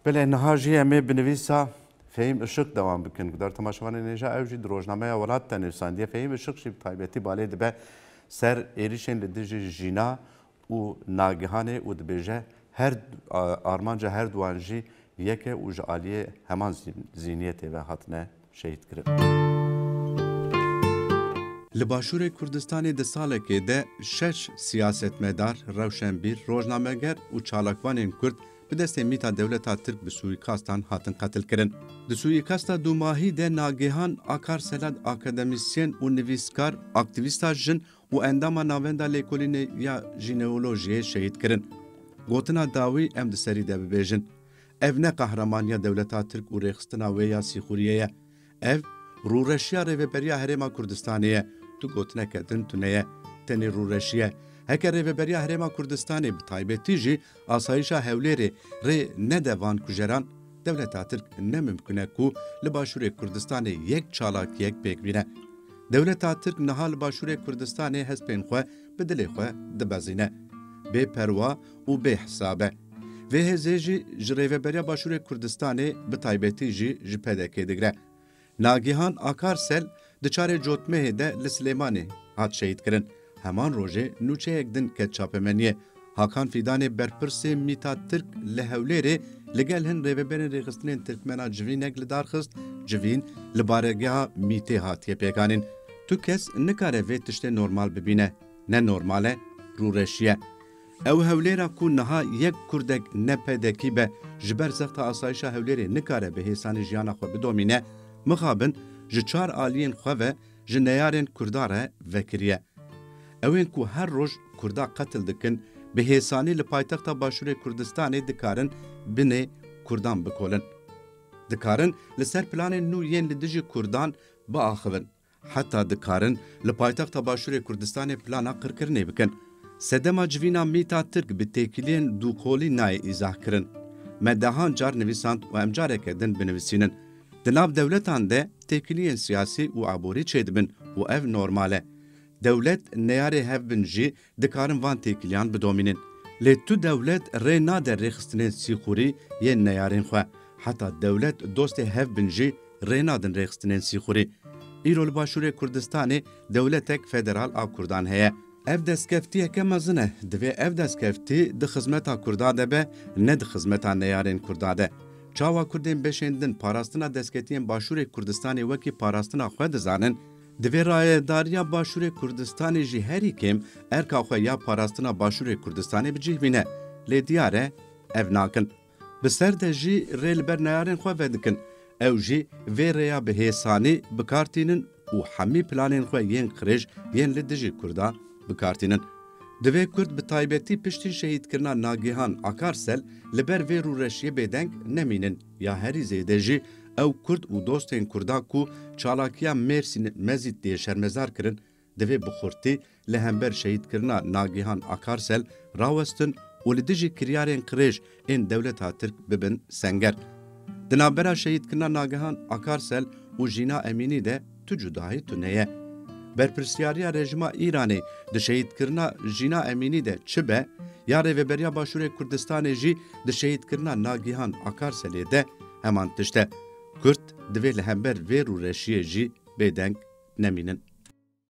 Belê niha jî em ê bi nivîsa Fehîm Işık dewam bikin. Guhdar temaşevanê nêja ew jî di rojnameya Welat de nivîsandiye. Fehîm Işık jî bi taybetî balê dibe ser êrîşên li dijî jîna û nagihanê û dibêje her armanca her duwan jî yek e û ji aliyê heman zîniyetê ve hatine şehîd kirin. Li Başûrê Kurdistanê di salekê de şeş siyasetmedar, rewşenbîr, rojnameger û çalakvanên Kurd bi destê mîta dewleta Tirk bi sûîkastan hatin qetilkirin. Di sûîkasta dûmahî de Nagihan Akar Selat akademîsyen û nivîskar, aktîvîsta jin û endama Navenda Lêkolînê ya Jîneolojiyê şehîd kirin. Gotina dawî em di serî de bibêjin. Ev ne qahramaniya dewleta Tirk û rêxistina wê ya Sîxuriyê ye. Ev rûreşiya Rêveberiya Herêma Kurdistanê ye. Tu gotineke din tune ye. Tenê rûreşî ye. Heke Rêveberiya Herêma Kurdistanê bi taybetî jî asayîşa Hewlêrê rê nede van kujeran, dewleta Tirk ne mimkun e ku li Başûrê Kurdistanê yek çalakiyek pêk bîne. Dewleta Tirk niha li Başûrê Kurdistanê hespên xwe bi dilê xwe dibezîne. Bê perwa û bê hesab e. Vê hêzê jî ji Rêveberiya Başûrê Kurdistanê bi taybetî jî ji PDK'ê digre. Nagihan Akarsel di çarê Cotmehê de li Silêmanê hat şehîdkirin. Heman rojê nûçeyek din ket çapemeniyê. Hakan Fîdanê berpirsê mîta Tirk li Hewlêrê li gel hin rêveberên rêxistinên Tirkmen a civînek li dar xist, Civîn li baregeha mîtê hatiye pêkanîn. Tu kes nikare vê tiştê normal bibîne. Ne normal e, rûreşiye. Ew Hewlêra ku niha yek Kurdek ne PDKî be ji ber zexta asayişa Hewlêrê nikare bi hêsanî jiyana xwe bidomîne, mixabin ji çar aliyên xwe ve ji neyarên Kurda re vekiriye. Ew ên ku her roj Kurda qetil dikin, bi hêsanî li paytexta Başûrê Kurdistanê dikarin binê Kurdan bikolin. Dikarin li ser planên nû yên li dijî Kurdan biaxivin. Heta dikarin li paytexta Başûrê Kurdistanê plana qirkirinê bikin. Sedema civîna mîta Tirk bi têkiliyên dûkolî nayê îzah kirin. Me dehan car nivîsand û em careke din binivisînin. Di nav dewletan de têkiliyên siyasî û aborî çêdibin û ev normal e. Dewlet neyarê hev bin jî Dikarin van têkiliyan bidomînin. Lê tu dewlet rê nade rêxistinên sîxurî yên neyarên xwe. Heta dewlet dostê hev bin jî rê nadin rêxistinên sîxurî. Îro li Başûrê Kurdistanê dewletek federal a kurdan heye. Ev destkeftiyeke mezin e. Divê ev destkeftî di xizmeta kurda de be, ne di xizmeta neyarên kurda de. Çawa kurdên beşên din parastina desketiyên Başûrê Kurdistanê wekî parastina xwe dizanin, Di vê rayedariya Başûrê Kurdistanê jî herî kêm erka xwe ya parastina Başûrê Kurdistanê bi cih bîne. Lê diyar e ev nakin. Bi ser de jî rê li ber neyarên xwe vedikin. Ew jî vê rêya bi hêsanî bi kar tînin û hemî planên xwe yên qirêj yên li dijî Kurda bi kar tînin. Divê Kurd bi taybetî piştî şehîdkirina Nagihan Akarsel li ber vê rûreşiyê bêdeng nemînin. Ya herî zêde jî ew kurd û dostên kurdan ku çalakiya Mêrsîn Mezît dê şermezar kirin, divê bi xurtî li hember şehîdkirina Nagihan Akarsel rawestin û li dijî kiryarên qirêj ên dewleta Tirk bibin senger. Di navbera şehîdkirina Nagihan Akarsel û Jîna Emînî de, tu cudayî tune ye. Berpirsyariya rejima Îranê di şehîdkirina Jîna Emînî de çi be, ya Rêveberiya Başûrê Kurdistanê jî di şehîdkirina Nagihan Akarselê de heman tişt e. Kurd divê li hember vê rûreşiyê jî bêdeng nemînin.